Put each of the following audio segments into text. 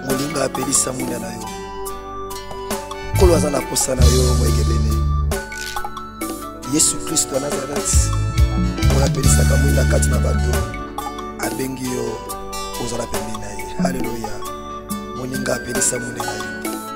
molinga apelisa mwinda na yo nkolo aza na posa na yo moyegebene yesu kristo ya nazareti oyo apelisaka mwinda kati na bato abengi yo ozala pembeni na ye haleluya moninga apelisa mwinda na yo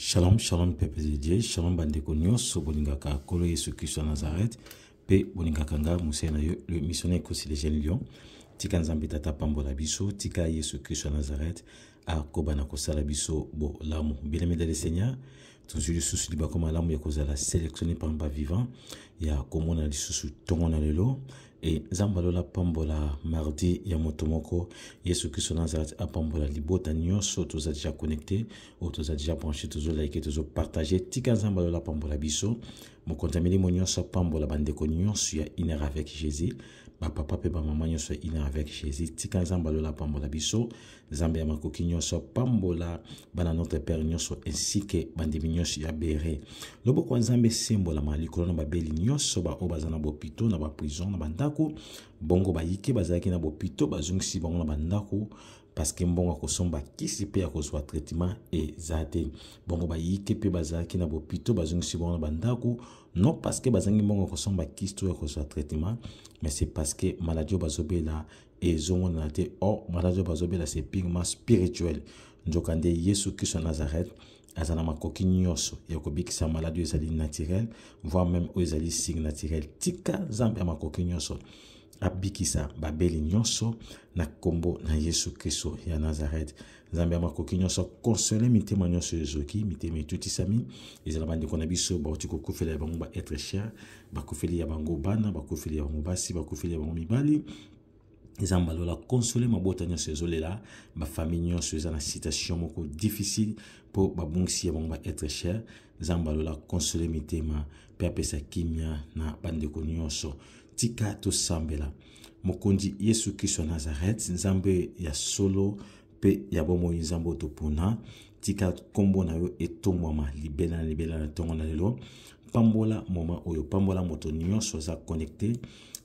Shalom, shalom, peuple de Dieu, shalom, bandeko nyonso, bolingaka kolo Yesu Christo ya Nazareth, pe bolingaka nga musee na yo, le missionnaire Kosi le jeune lion, tika nzambe tata pambola biso, tika Yesu Christo ya Nazareth, akoba na kosala biso bolamu. Bien-aimé dans le Seigneur, tozwi lisusu libaku malamu ya kozala sélectionné parmi bavivant ya komona lisusu ntongo na lelo e nzambe alola apambola mardi ya moto moko yesu kristo nazareth apambola libota nyonso toza deja connecté oyo toza deja branché tozolaike tozopartage tika nzambe alola apambola biso mokonzi ya milimo nyonso apambola bandeko nyonso ya iner avec jésus bapapa mpe bamama nyonso ya iner avec jésus tika nzambe alola apambola biso nzambe ya makoki nyonso apambola bana notre père nyonso ainsi ke bandimi nyonso ya bere loboko ya nzambe esembolama likolo na babeli nyonso baoyo baza na bopito na baprison na bandako bongo bayike bazalaki na bopito bazongisi bango na bandako parceke mbongo ya kosomba kisi mpe ya kozwa traitement eza te bongo bayike mpe bazalaki na bopito bazongisi bango na bandako non parceke bazangi mbongo ya kosomba kisi to ya kozwa traitement mais c'est parceke maladie oyo bazobela ezongonana te or maladi oyo bazobela se purement spirituel nzokande yesu kristo ya nazareth aza na makoki nyonso ya kobikisa maladi oyo ezali naturel voire meme oyo ezali signe naturel tika nzambe ya makoki nyonso abikisa babeli nyonso na nkombo na yesu kristo ya nazareth nzambe ya makoki nyonso akonsole mitema nyonso ezoki mitema etutisami ezala bandeko na biso bauti kokufela ya bango baetre cher bakufeli ya bango bana bakufeli ya bango basi bakufeli ya bango mibali eza mbalo la console mabota nyonso ezolela bafamille nyonso eza na situation moko difficile mpo babungisi ya bango baetre cher eza mbalo la console mitema mpe apesa kimia na bandeko nyonso. Tika tosambela. Mokonzi Yesu Kristo ya Nazarete, Nzambe ya solo mpe ya bomoi, Nzambe oyo topona, tika nkombo na yo etombwama libela na libela na ntongo na lelo. Pambola moma oyo, pambola moto nyonso aza connecte,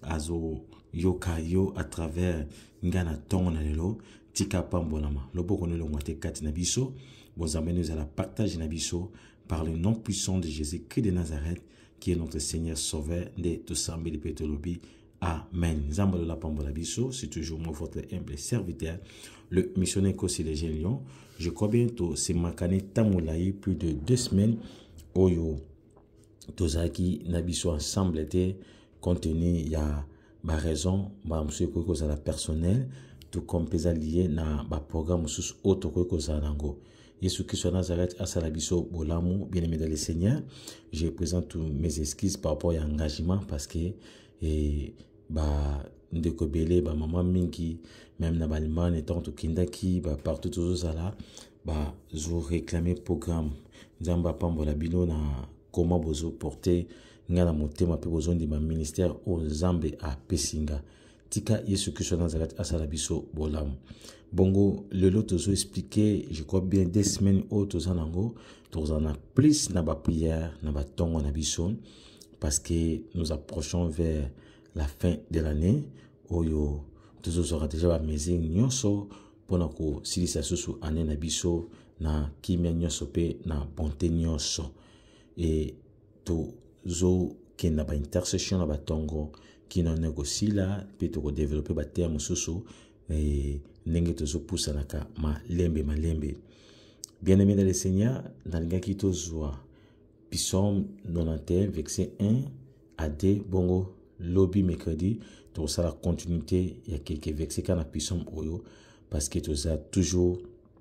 azoyoka yo à travers ngai na ntongo na lelo. Tika pambolama, loboko na elongwa te kati na biso, bozambani ezala partage na biso par le nom puissant de Jésus Christ de Nazareth qui est notre Seigneur Sauveur de tout sambeli pe tolobi Amen. Nzambe la pambola biso, c'est toujours moi votre humble serviteur, le missionnaire Kossi les Jeunes Lyon. Je crois bientôt c'est Makane Tamulaï plus de deux semaines oyo tozaki na biso ensemble te compte tenu ya ba raison mbala mosusu ekoki kozala personnel tout comme mpe eza lie na baprogramme mosusu oyo tokoki kozala nango yesu kristo ya nazareth asala biso bolamu bien aimé dans le seigneur je présente mes excuses par rapport ya engagement parce que eh, ba ndeko ebele bamama mingi meme na baallemagne ntango tokendaki bapartout tozozala bazoreklame programme nzambe apambola bino na koma bozoporte nga na motema mpe bozondima ministère oyo nzambe apesi nga tika yesu kristo ya nazareth asala biso bolamu bongo lelo tozo explike je crois bien de semaine oyo toza nango tokozala na plus na baprière na batongo na biso parce que nous approchons vers la fin de l'année oyo tozozwaka deja bamesure nyonso mpo na kosilisa susu ane na biso na kimia nyonso mpe na bonte nyonso e tozokenda ba intercession na batongo kino na ekosila mpe tokodevelope bateya mosusu eh, ndenge tozopusanaka malembe malembe bien aimé dans le seigneur nalingaki tozwa psaume 91 verset 1 à 2 bongo lobi mercredi tokosala continuité ya keke verset kaka na psaume oyo parce que toza toujours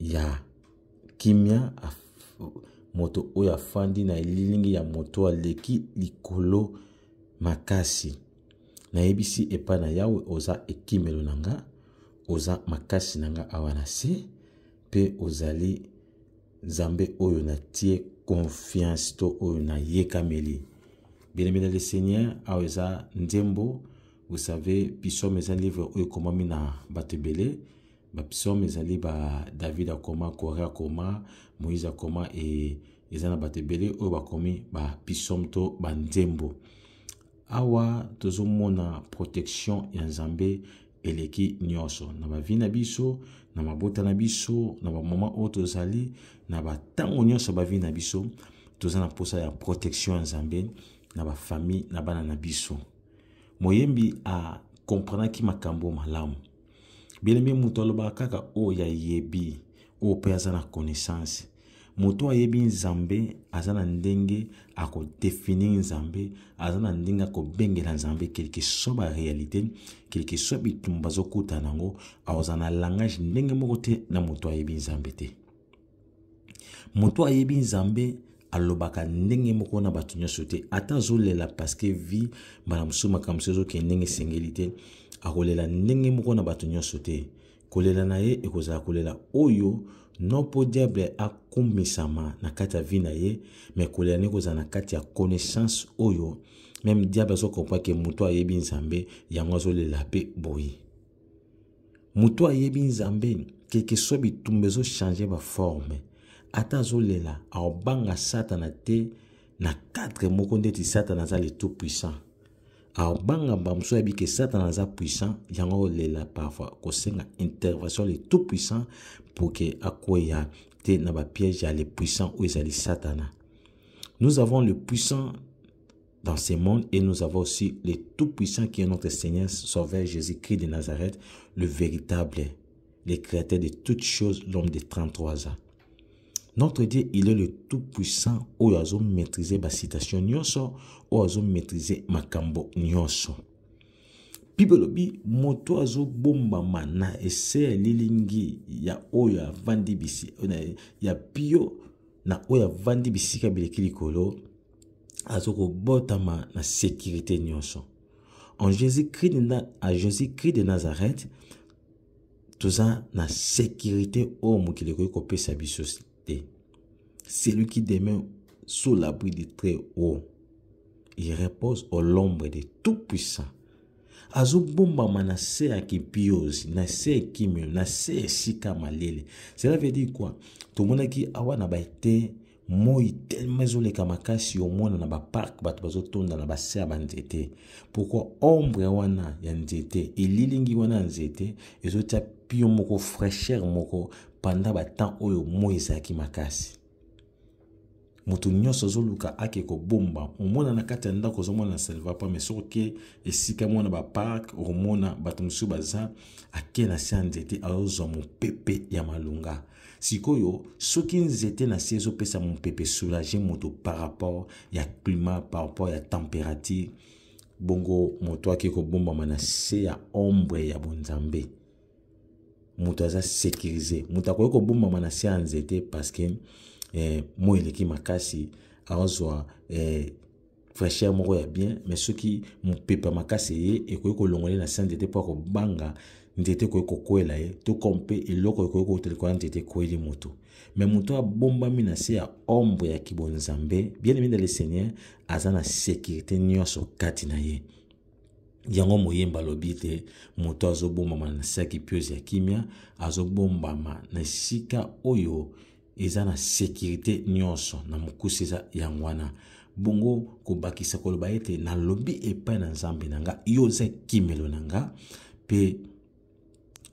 ya kimia moto oyo afandi na elilingi ya moto aleki likolo makasi nayebisi epai na yawe oza ekimelo na nga oza makasi na nga awa na se mpe ozali nzambe oyo natie confiance to oyo nayekameli belemela le seigneur awa eza nzembo vous savez pisome eza livre oyo ekomami na bato ebele bapsaume ezali ba david akoma kore akoma moïse akoma e, eza na bato ebele oyo bakomi bapsaume to banzembo awa tozomona protection ya nzambe eleki nyonso na bavi na biso na mabota na biso na bamoma oyo tozali na bantango nyonso bavi na biso toza na mposa ya protection ya nzambe na bafamille na bana na biso moyembi akomprenaki makambo malamu Bien-aimé, moto alobaka kaka oyo ayebi, oyo mpe aza na connaissance. Moto ayebi Nzambe aza na ndenge akodefinir Nzambe, aza na ndenge akobengela Nzambe quelque soit ba réalité, quelque soit bitumba azokutana nango, akozala na langage ndenge moko te na moto ayebi Nzambe te. moto ayebi nzambe alobaka ndenge moko na bato nyonso te ata azolela parceke vi mbala mosusu makambo mosusu ezokende ndenge esengeli te akolela ndenge moko na bato nyonso te kolela na ye ekozala kolela oyo no mpo diable akumisama na kati ya vi na ye me kolela na ye ekozala na kati ya connaissance oyo meme diable azokomprake moto ayebi nzambe yango azolela mpe boye moto ayebi nzambe keke so bitumba ezochange baforme ata azolela aobanga satana te na cadre moko ndeti satana aza le tout puissant aobanga mbala mosusu ayebi ke satana aza puissant yango aolela parfois kosenga intervention le tout puissant pour ke akweya te na bapiège ya le puissant oyo ezali satana nous avons le puissant dans ce monde et nous avons aussi le Tout-Puissant qui est notre Seigneur, Sauveur Jésus-Christ de Nazareth, le véritable, le créateur de toutes choses, l'homme de 33 ans. Notre Dieu, il est le Tout-Puissant, où a maîtrisé ma citation nyoso, où a maîtrisé ma cambo nyoso. Bible lobi moto azo bomba mana ese lilingi ya oyo avandi bisi ya pio na oyo avandi bisika bileki likolo azo kobotama na sécurité nyonso en jésus-christ à jésus-christ de nazareth toza na sécurité oyo mokili ekoki kopesa biso te celui qui demeure sous l'abri du très haut il repose au l'ombre de tout puissant azobombama na se ya kipiozi na se ya kimio na se ya esika malele cela veut dire quoi tomonaki awa na baete moi tellement ezoleka makasi omona na baparke bato bazotonda na base ya banzete pourkui ombre wana ya nzete elilingi wana ya nzete ezotya pio moko fraîcheur moko pendant batemp oyo moi ezalaki makasi moto nyonso azoluka ake kobomba omona na kati ya ndako ozomona na salvapa mai soki oke esika mwana baparke okomona bato mosusu baza ake na se ya nzete azozwa mopepe ya malonga sikoyo soki nzete na se ezopesa mopepe soulage moto par rapport ya climat par rapport ya température bongo moto ake kobombama na se ya ombre ya bonzambe moto aza sécurise moto akoki kobombama na se ya nzete parce que eh, moi eleki makasi azwa eh, fraîcheur moko ya bien mais soki mopepe makasi eye ekoki kolongola ye na se ya nzete mpo akobanga nzete ekoki kokwela ye to comme mpe eloko ekoki kouta likolo ya nzete ekweli moto me moto abombami na se ya ombre ya kibonzambe bien aimé de le seigneur aza na sécurité nyonso kati na ye yango moyemba alobi te moto azobombama na se ya kipiozi ya kimia azobombama na esika oyo eza na sekirite nyonso na mokuse eza yango wana bongo kobakisa koloba ete nalobi epai na nzambe na nga yo oza ekimelo na nga mpe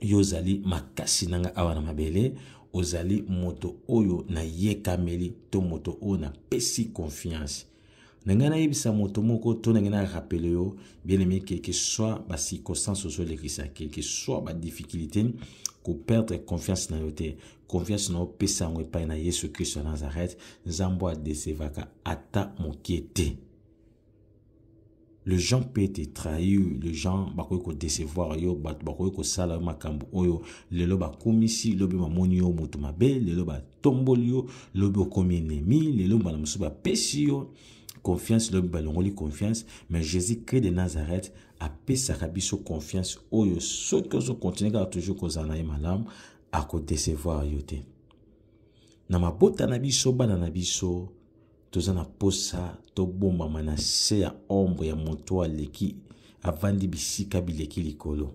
yo ozali makasi na nga awa na mabele ozali moto oyo nayekameli to moto oyo napesi confiance na ngai nayebisa moto moko to na ngai na rapele yo bien aimé que que soit ba circonstance ozolekisa que que soit ba difficulté koperdre confiance na yo te confiance na yo pesa yango epai na yesu kristo ya nazareth nzambe adesevaka ata moke te les gens peuvent te trahir les gens bakoki kodecevoir yo bato bakoki kosala yo makambo oyo lelo bakumisi lobi bamoni yo moto mabe lelo batomboli yo lobi okomi enemi lelo mbala mosusu bapesi yo confiance lobi balongoli confiance mais jésus christ de nazareth apesaka biso confiance oyo soki ozokontinue kaka toujours kozala na ye malamu akodecevoir yo te na mabota na biso bana na biso toza na posa tobombama na se ya ombre ya moto aleki avandi bisika bileki likolo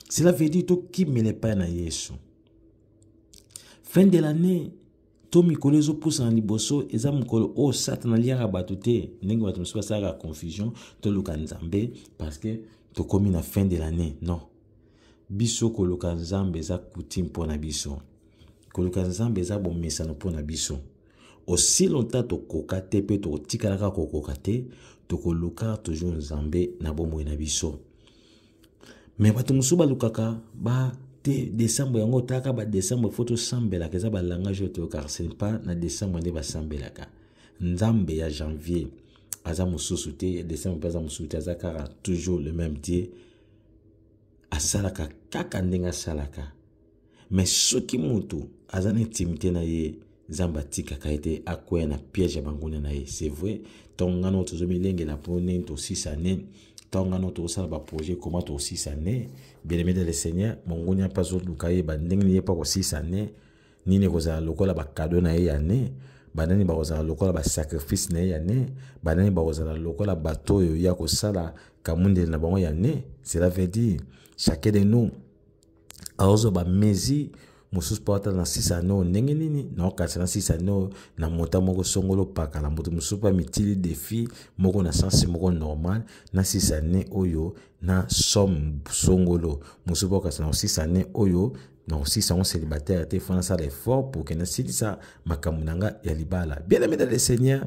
cela veut dire tokimela epai na yesu fin de l'année to mikolo ezopusana liboso eza mokolo oyo satana aliaka bato te ndenge bato mosusu basalaka confusion toluka nzambe parce que tokomi na fin de l'année non biso koluka nzambe eza coutume mpo na biso koluka nzambe eza bomesano mpo na biso aussi longtemps tokoka te mpe tokotikalaka kokoka te tokoluka toujours nzambe na bomoi na biso me bato mosusu balukaka ba te décembre yango otaka ba décembre fo tosambelaka eza balangage oyo toyokaka ce pas na décembre nde basambelaka nzambe ya janvier aza mosusu te ya décembre mpe aza mosusu te aza kaka toujours le même dieu asalaka kaka ndenge asalaka me soki moto aza na intimité na ye nzambe atikaka ye te akwea na piège ya banguna na ye c'est vrai ntango ngai nao tozomilengela mpo nini tosisa ne ntango ngai nao tozosala baprojet koma tosisa ne belemede le seigneur mongunia mpe azoluka yeba ndenge nini ye mpe akosisa ne nini ekozala lokola bakado na ye ya ne banani bakozala lokola basacrifice na ye ya ne banani bakozala lokola bato oyo ye akosala kamundele na bango ya ne cela veut dire chacun de nous aozwa bamesure mosusu mpo ata na sisa ane oyo ndenge nini naokanisa na sisa ane oyo na mota moko songolo pakala moto mosusu mpe amitili defi moko na sense moko normal na sisa ane oyo na somme songolo mosusu mpe okanisa na sisa ane oyo nakosisa yango célibataire te fo nasala effort pour ke nasilisa makambo na nga ya libala bien aimé dans le seigneur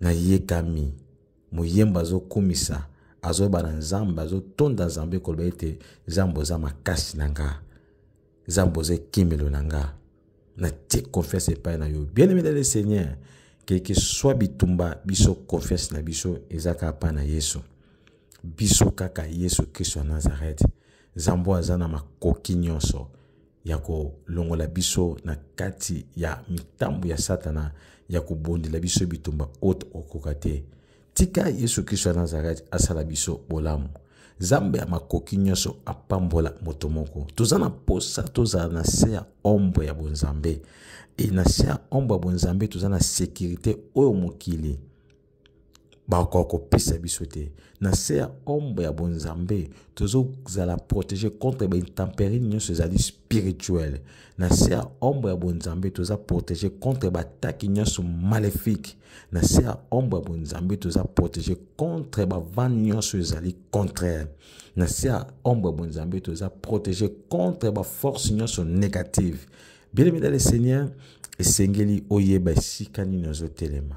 na yekami moyembo azokumisa azoyeba na nzambe azotonda nzambe koloba ete nzambe oza makasi na nga nzambe oza ekimelo na nga natie confiance epai na yo bien aimé le seigneur kelke swa bitumba biso confiance na biso eza kaka epai na yesu biso kaka yesu kristo ya nazarete nzambe aza na makoki nyonso ya kolongola biso na kati ya mitambo ya satana ya kobondela biso bitumba oyo tokokoka te tika yesu kristo ya nazareti asala biso bolamu nzambe ya makoki nyonso apambola moto moko toza na mposa tozala na se ya ombo ya bonzambe e na se ya ombo ya bonzambe toza na sekirite oyo mokili bakoka kopesa biso te na se ya ombre ya bonzambe tozozala protege contre baintemperi nyonso ezali spirituel na se ya ombre ya bonzambe toza protege contre bataki nyonso maléfique na se ya ombre ya bonzambe toza protege contre bavane nyonso ezali contraire na se ya ombre ya bonzambe toza protege contre baforce nyonso négative bien aimé dans le seigneur esengeli oyeba esika nini ozotelema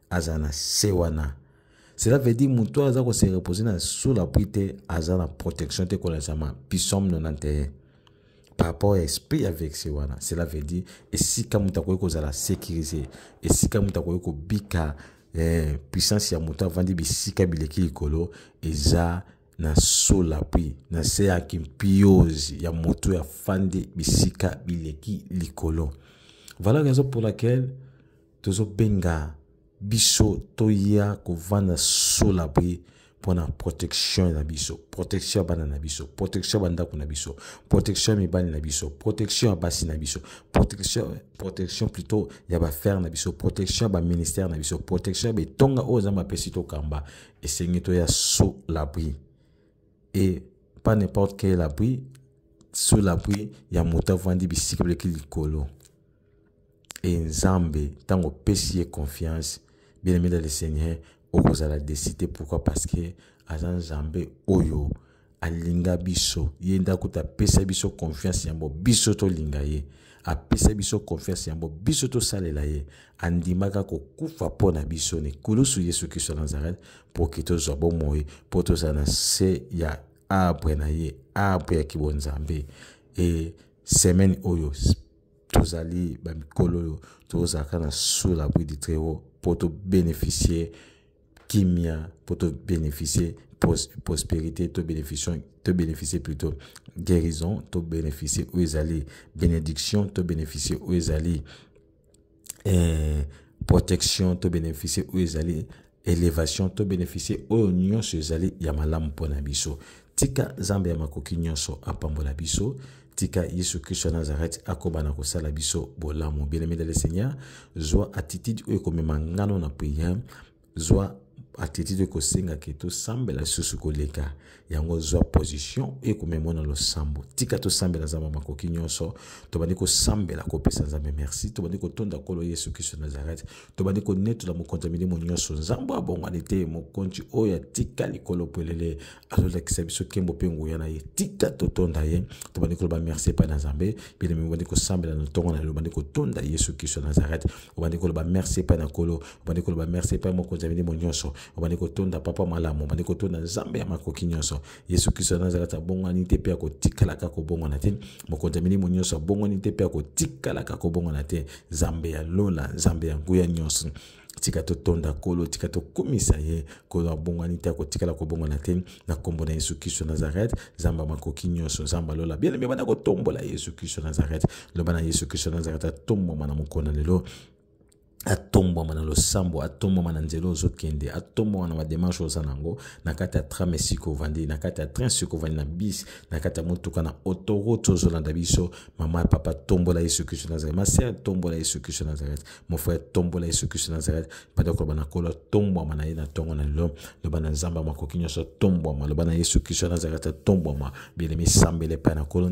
aza na se wana cela veut dire moto oyo aza kose repose na sous la pluie te aza na protection te kolazama pisome 91 par rapport ya esprit ya vexe wana cela veut dire esika moto akoki kozala sécurise esika moto akoki kobika eh, puissance ya moto avandi bisika bileki likolo eza na sola mpe na se ya kimpiozi ya moto ya fandi bisika bileki likolo valeur raison pour laquelle tozobenga biso toya kovanda sola boye mpo na protection na biso protection ya bana na biso protection ya bandako na biso protection ya mibali na biso protection ya basi na biso protection, protection plutôt ya bafere na biso protection ya baministère na biso protection ya betonga oyo nzambe apesi tokamba esengi toya sous l'abri et pas n'importe quel abri sous l'abri ya moto avandi bisika bileki likolo e nzambe ntango opesi ye confiance bien aimé dans le seigneur okozala desi te pourquoi parce que aza nzambe oyo alinga biso ye nde akuta apesa biso confiance yango biso tolinga ye apesa biso confiance yango biso tosalela ye andimaka kokufa mpo na biso na ekulusu yesu kristo ya nazareth mpo ke tozwa bomoi mpo tozala na se ya arbre na ye arbre ya kibonzambe e semaine oyo tozali bamikolo oyo tozalaka na sous l'abri du très haut mpo tobénéficie kimia mpo tobénéficie prospérité tobénéficie plutôt guérison tobénéficie oyo ezali bénédiction tobénéficie oyo ezali eh, protection tobénéficie oyo ezali elevation to beneficie oyo nyonso ezali ya malamu mpo na biso tika nzambe ya makoki nyonso apambola biso tika yesu kristo ya nazareti akoba na kosala biso bolamu bielemede le seigneur zwa attitude oyo ekomema ngano na priere zwa attitude oyo ekosengaka tosambela lisusu koleka yango zwa position oyo ekomema na losambo tika tosambela nzambe makoki nyonso tobandi kosambela kopesa nzambe merci tobandi kotonda nkolo yesu kristo nazareth tobandi konetola mokonzi ya milimo nyonso nzambe abongwani te mokonzi oyo atika likolo polele azolakisa biso kembo mpe nguya na ye tika totonda ye tobandi koloba merci epai na nzambe bilemi obandi kosambela na ntongo na lelo obandi kotonda yesu kristo nazareth obandi koloba merci epai na nkolo obandi koloba merci epai mokonzi ya milimo nyonso obandi kotonda papa malamu obandi kotonda nzambe ya makoki nyonso yesu kristo ya nazareth abongwani te mpe akotikalaka kobongwana te mokonzi ya milimo nyonso abongwani te mpe akotikalaka kobongwana te nzambe ya lola nzambe ya nguya nyonso tika totonda nkolo tika tokumisa ye nkolo abongwani te akotikala kobongwana te na nkombo na yesu kristo nazareth nzambe makoki nyonso nzambe alola bien ebanda kotombola yesu kristo nazareth loba na yesu kristo nazareth atombwama na mokona lelo atombwama na losambo atombwama na nzela ozokende atombwama na bademarche oza nango na kati ya tram esika ovandi na kati ya train esika ovandi na bis na kati ya motuka na autoroute ozolanda biso mama ya papa tombola yesu kristo nazareth masere tombola yesu kristo nazareth mofrere tombola yesu kristo nazareth banda koloba na kolo atombwama na ye na ntongo na lelo loba na nzambe ya makoki nyonso atombwama loba na yesu kristo nazareth atombwama bielemi sambele epai na kolo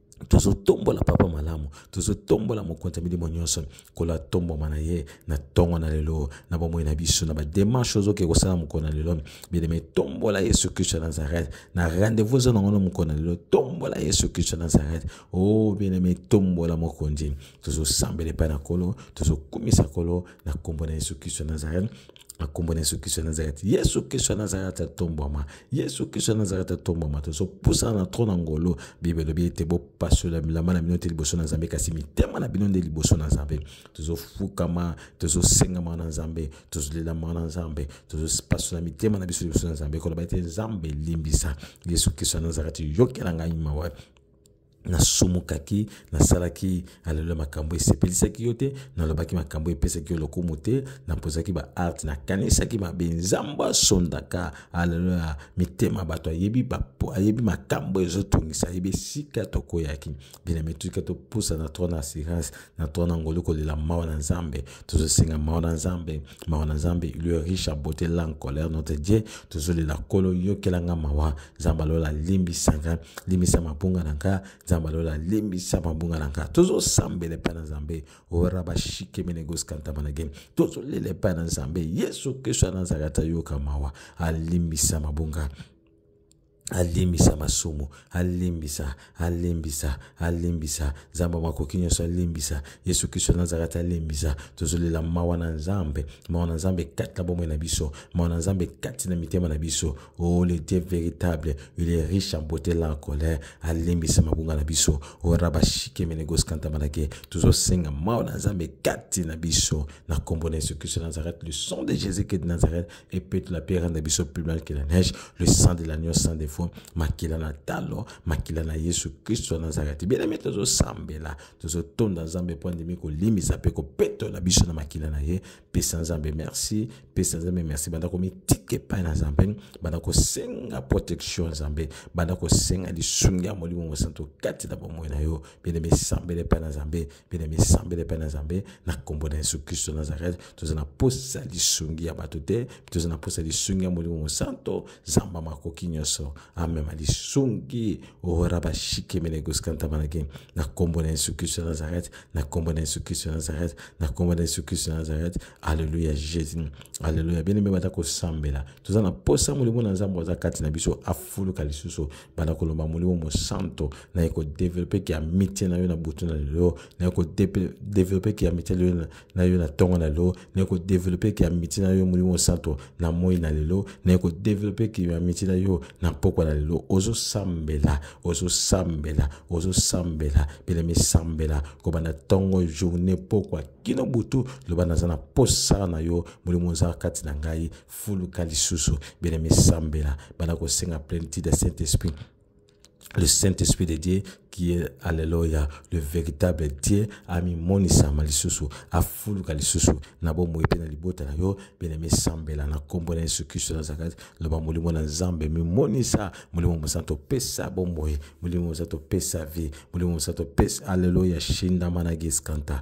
tozotombola papa malamu tozotombola mokonzi ya milimo nyonso nkolo atombwama na ye na ntongo na lelo na bomoi na biso na bademarche ozoke kosala mokolo na lelo bileme tombola yesu kristo ya nazareth na rendez-vous ozo nango na mokolo na lelo tombola yesu kristo ya nazareth o oh, bileme tombola mokonzi tozosambela epai na nkolo tozokumisa nkolo na nkombo na yesu kristo ya nazareth na nkombo na yesu kristo ya nazareti yesu kristo ya nazareti atombwama yesu kristo ya nazareti atombwama tozopusana na tro na ngolo bible elobi ete bopasola milamba na bino te liboso na nzambe kasi mitema na bino nde liboso na nzambe tozofukama tozosengama na nzambe tozolelama na nzambe tozopasola mitema na biso liboso na nzambe koloba ete nzambe limbisa yesu kristo ya nazareti yokela ngai mawa nasumukaki nasalaki aleluya makambo esepelisaki yo te nalobaki makambo epesaki yo lokumu te nampozaki baarte nakanisaki mabe nzambo asondaka aleluya mitema bato ayebi, ayebi makambo ezotungisa ayebi esika tokoyaki binami tika topusa na tro na assurance na tro na ngolu kolela mawa na nzambe tozosenga mawa na nzambe mawa na nzambe ilio riche abote lan colère notre dieu tozolela kolo yokelanga mawa nzambe alola limbisa nga limbisa mabunga na nga nzambe alola limbisa mabunga na nga tozosambela epai na nzambe ora bashikemenegoskantamaage tozolela epai na nzambe yesu kristo ya nazarata yoka mawa alimbisa mabunga alimbisa masumu alimbisa alimbisa alimbisa nzambe ya makoki nyonso alimbisa yesu kristo nazareti alimbisa tozolela mawa na nzambe mawa na nzambe kati na bomoi na biso mawa na nzambe kati na mitema na biso o le dieu véritable il est riche en beauté la colère alimbisa mabunga na biso o rabashike menegoskantamaake tozosenga mawa na nzambe kati na biso na nkombo na yesu kristo nazareti le son de jésus christ de nazareth et peut la pierre de biso plus mal que la neige le sang de l'agneau sans défaut makila na talo makila na yesu kristo na nazareti bien aimé tozosambela tozotonda nzambe mpo andimi kolimbisa mpe kopetola biso na makila na ye pesa nzambe merci pesa nzambe merci banda komitika epai na nzambe banda kosenga protection nzambe banda kosenga lisungi ya molimo mosantu kati na bomoi na yo bien aimé sambela epai na nzambe bene misambele epai na nzambe na nkombo na yesu kristo ya nazareth toza na posa lisungi ya bato te toza na posa lisungi ya molimo mosanto zamba makoki nyonso amema lisungi ora bashikemele goskantamanaki na nkombo na yesu kristo ya nazareth na nkombo na yesu kristo ya nazareth na nkombo na yesu kristo ya nazareth aleluya jesus aleluya bene mibata kosambela toza na posa molimo na nzambe aza kati na biso afuluka lisusu banda koloba molimo mosanto naye kodevelope ki amitie na yo na butu na lelo naye kodevelope ki amitie na yo na ntongo na lelo naye kodevelope ki amitie na yo molimo mosanto na moi na lelo naye kodevelope ki amitie na yo na mpokwa na lelo ozosambela ozosambela ozosambela belemi sambela kobanda ntongo journée mpokwa kino butu loba naza na posa na yo molimo oza kati na ngai fuluka lisusu bien aimé sambela banda kosenga plenitude ya saint esprit le Saint-Esprit de Dieu qui est, alléluia, le véritable Dieu, ami monisa malisusu, afuluka lisusu, na bomoi mpe na libota na yo, bien aimé sambela na kombo na Yesu Kristo na Nazareth, loba molimo na Nzambe mimonisa, molimo mosanto pesa bomoi, molimo mosanto pesa vie, molimo mosanto pesa, alléluia, shinda mana giskanta,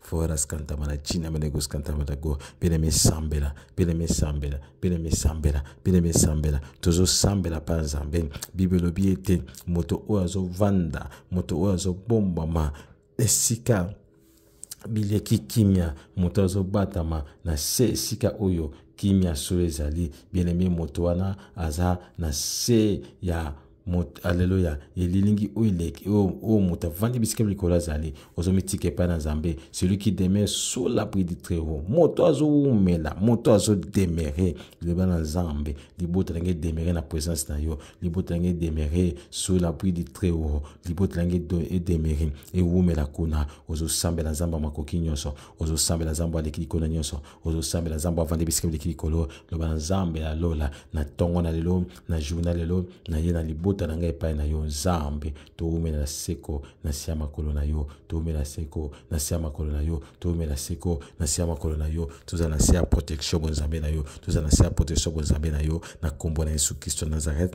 fora scantama na china mene go scantama da go pele me sambela pele me sambela pele me sambela pele me sambela tozo sambela pa nzambe bible lobi ete moto oyo azovanda moto oyo azobombama esika bileki kimia moto azobatama na se esika oyo kimia solo ezali bien aime moto wana aza na se ya aleluya elilingi oyo eleki oyo moto avandi bisika likolo azali ozomitika epai na nzambe celui qui demeure sur l'abri du très haut moto azowumela moto azodemere liloba na nzambe libota na ngai edemere na présence na yo libota na ngai edemere sur l'abri du très haut libota na ngai edemere ewumela kuna ozosambela nzambe ya makoki nyonso ozosambela nzambe aleki likolo na nyonso ozosambela nzambe avandi bisika bileki likolo loba na nzambe ya lola na ntongo na lelo na jour na lelo na ye na libota na ngai epai na yo nzambe towumela na seko na se ya makolo na yo towumela seko na se ya makolo na yo towumela seko na se ya makolo na yo tozala na se ya protection bonzambe na yo tozala na se ya protection bonzambe na yo na nkombo na yesu kristo nazareth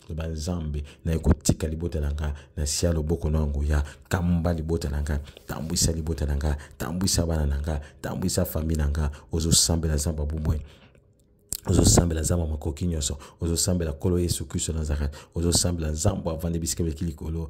loba nzambe naye kotika libota na nga na sia loboko na nguya kamba libota na nga tambwisa libota na nga tambwisa bana na nga tambwisa fami na nga ozosambela nzambe abumwe ozosambela nzambe makoki nyonso ozosambela nkolo yesu kristo nazareth ozosambela nzambe avandi bisika biki likolo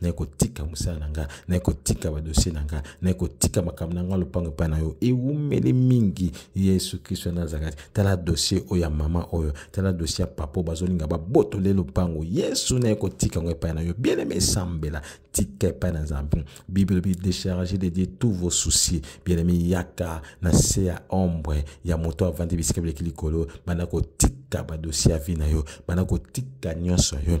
naye kotika mosala na nga naye kotika badosie na nga naye kotika makambo na nga lopango epai na yo ewumeli mingi yesu kristo ya nazareti tala dosie oyo ya mama oyo tala dosie ya papa oyo bazolinga babotole lopango yesu naye kotika yango epai na yo bieneme esambela tika epai na nzambe bible elobi décharge de dieu tous vos soucis bieneme yaka na se ya ombre ya moto avandi bisika bileki likolo banda kotika badosie ya vi na yo banda kotika nyonso yo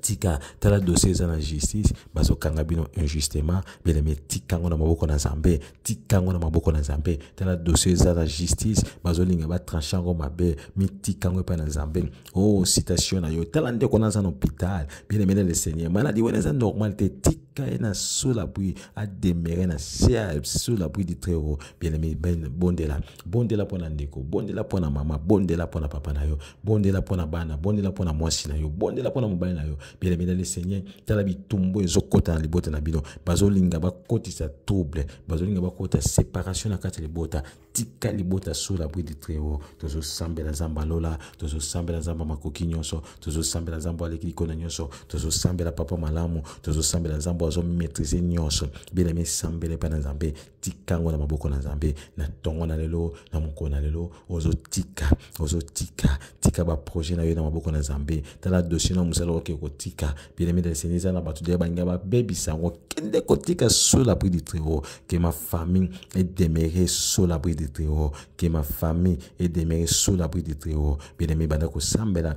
tika tala dossier eza na justice bazokanga bino injustement bien-aimé tika yango na maboko na nzambe tika yango na maboko na nzambe tala dossier eza na justice bazolinga batranche yango mabe mitika yango epai na nzambe o oh, citation na yo tala ndeko naza na hôpital bien-aimé na le seigneur maladi wana eza normal te tika et na sous la pluie a demeuré na sous la pluie du très haut bien aimé ben bondela bondela pona ndeko bondela pona mama bondela pona papa na yo bondela mpo na bana bondela mpo na mwasi na yo bondela mpo na mobali na yo bilemela le seigneur tala bitumbu ezokota na libota na bino bazolinga bakotisa trouble bazolinga bakota séparation na kati ya libota tika libota sur la bride très haut tozosambela nzambe ya lola tozosambela nzambe ya makoki nyonso tozosambela nzambe aleki likona nyonso tozosambela papa malamu tozosambela nzambe azomaîtrise nyonso bieleme esambela epai na nzambe tika yango na maboko na nzambe na ntongo na lelo na mokolo na lelo ozotika ozotika tika baprojet na yo na maboko na nzambe tala dossier na mosala oke kotika bien-aimé de seigneur eza na bato deya balinga babebisa yango kende kotika sur l'abri du très-haut que ma famille est demeurée sur l'abri du très-haut que ma famille est demeurée sur l'abri du très-haut bien-aimé banda kosambela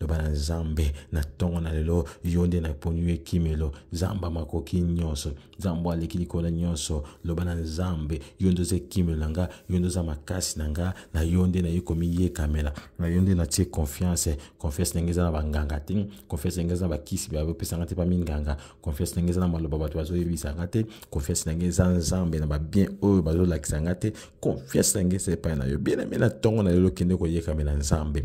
loba na nzambe na ntongo na lelo yo nde naponi yo ekimelo nzambe makoki nyonso nzambe aleki likolo nyonso loba na nzambe yo nde oza ekimelo na nga yo nde oza makasi na nga na yo nde naye komiyekamela na yo nde natie confiance confiance ndenge eza na banganga te confiance ndenge eza na bakisi bapesa nga te pa minganga confiance ndenge eza na maloba bato bazoyebisa nga te confiance ndenge eza nzambe na babien oyo bazolakisa nga te confiance ndenge eza epai na yo bien aime na ntongo na lelo kende koyekamela nzambe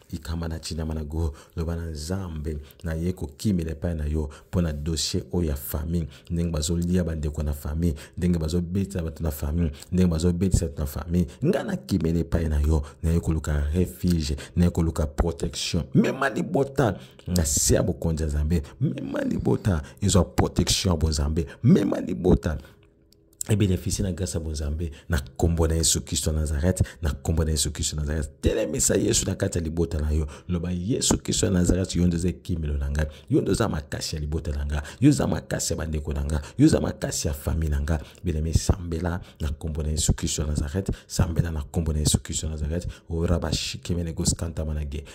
ikama na tinama na go loba na nzambe naye kokimela epai na yo mpo na dossier oyo ya famille ndenge bazolia bandeko na famille ndenge bazobetisa bato na famille ndenge bazobetisa bato na famille ngai nakimela epai na yo naye koluka refuge naye koluka protection mema libota na se ya bokonzi ya nzambe mema libota ezwa protection ya bonzambe mema libota et bénéficier na grâce ya bonzambe na nkombo na yesu kristo ya nazareth na nkombo na yesu kristo ya nazareth telemisa yesu na kati ya libota na yo loba yesu kristo ya nazareth yo nde oza ekimelo na ngai yo nde oza makasi ya libota na ngai yo oza makasi ya bandeko na ngai yo oza makasi ya famille na ngai benemi sambela na nkombo na yesu kristo ya nazareth sambela na nkombo na yesu kristo ya nazareth orabashikemenegoskanta manage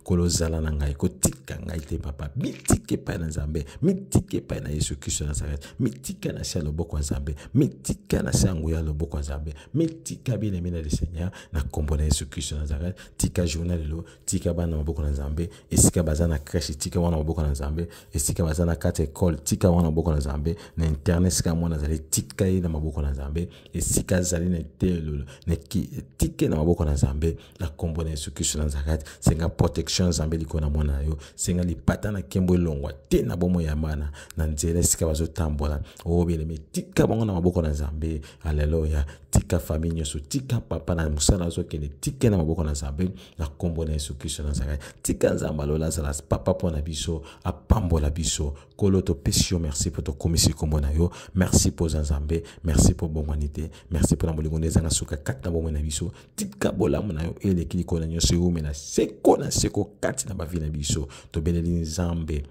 nkolo zala na ngai kotika ngai te papa mitika epai na nzambe mitika epai na yesu kristo ya nazarete mitika na se ya loboko ya nzambe mitika na se ya nguya ya loboko ya nzambe mitika bien-aime na le seigneur na nkombo na yesu kristo ya nazarete tika journa lelo tika bana na maboko na nzambe esika baza na crèche tika wana maboko na nzambe esika baza na kati ya ekole tika wana maboko na nzambe na internet esika mwana azali tika ye na maboko na nzambe esika azali na eteyelo na ki- tika ye na maboko na nzambe na nkombo na yesu kristo na nazareth senga protection ya nzambe likolo na mwana na yo senga lipata na nkembo elongwa te na bomoi ya mwana na nzela esika bazotambola obeleme oh, tika bango na maboko na nzambe aleluya tika famille nyonso tika papa na mosala azokende tika na maboko na nzambe na nkombo na yesu kristo na nazareth tika nzambe alola azala papa mpo na biso apambola biso kolo topesi yo merci mpo tokomisi nkombo na yo merci mpo oza nzambe merci mpo obongwani te merci mpo na bolingo nde ezanga suka kati na bomoi na biso tika bolamu na yo eleki likolo na nyonso eumela seko na seko kati na bavi na biso tobeleli nzambe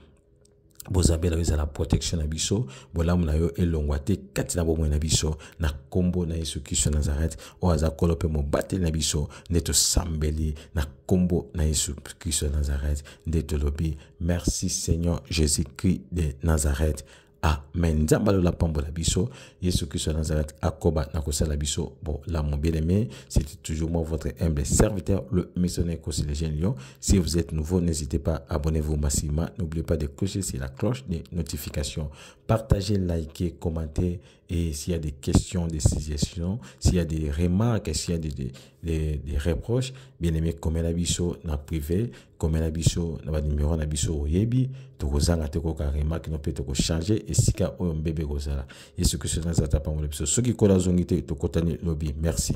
bozambe na yo ezala protection na biso bolamu na yo elongwa te kati na bomoi na biso na nkombo na yesu kristo nazareth oyo aza kolo mpe mobateli na biso nde tosambeli na nkombo na yesu kristo nazareth nde tolobi merci seigneur jésus christ de nazareth amen nzambe alola pambola biso yesu kristo ya nazareth akoba na kosala biso bolamu bien aimé c'était toujours moi votre humble serviteur le missionnaire cosilégien lyon si vous êtes nouveau n'hésitez pas abonnez-vous massivement n'oubliez pas de clocher sur la cloche des notifications partagez likez commentez Et s'il y a des questions, des suggestions, s'il y a des remarques, s'il y a des, des, des, des reproches, bien aimé, comme la biso na privé, comme la biso na ba numéro na biso oyebi, toko zanga te ko ka remarque no pe toko changer et sika oyo mbebe ko zala. Yesu Kristo na zata pangolo biso. Soki kola zongi te tokotani lobi. Merci.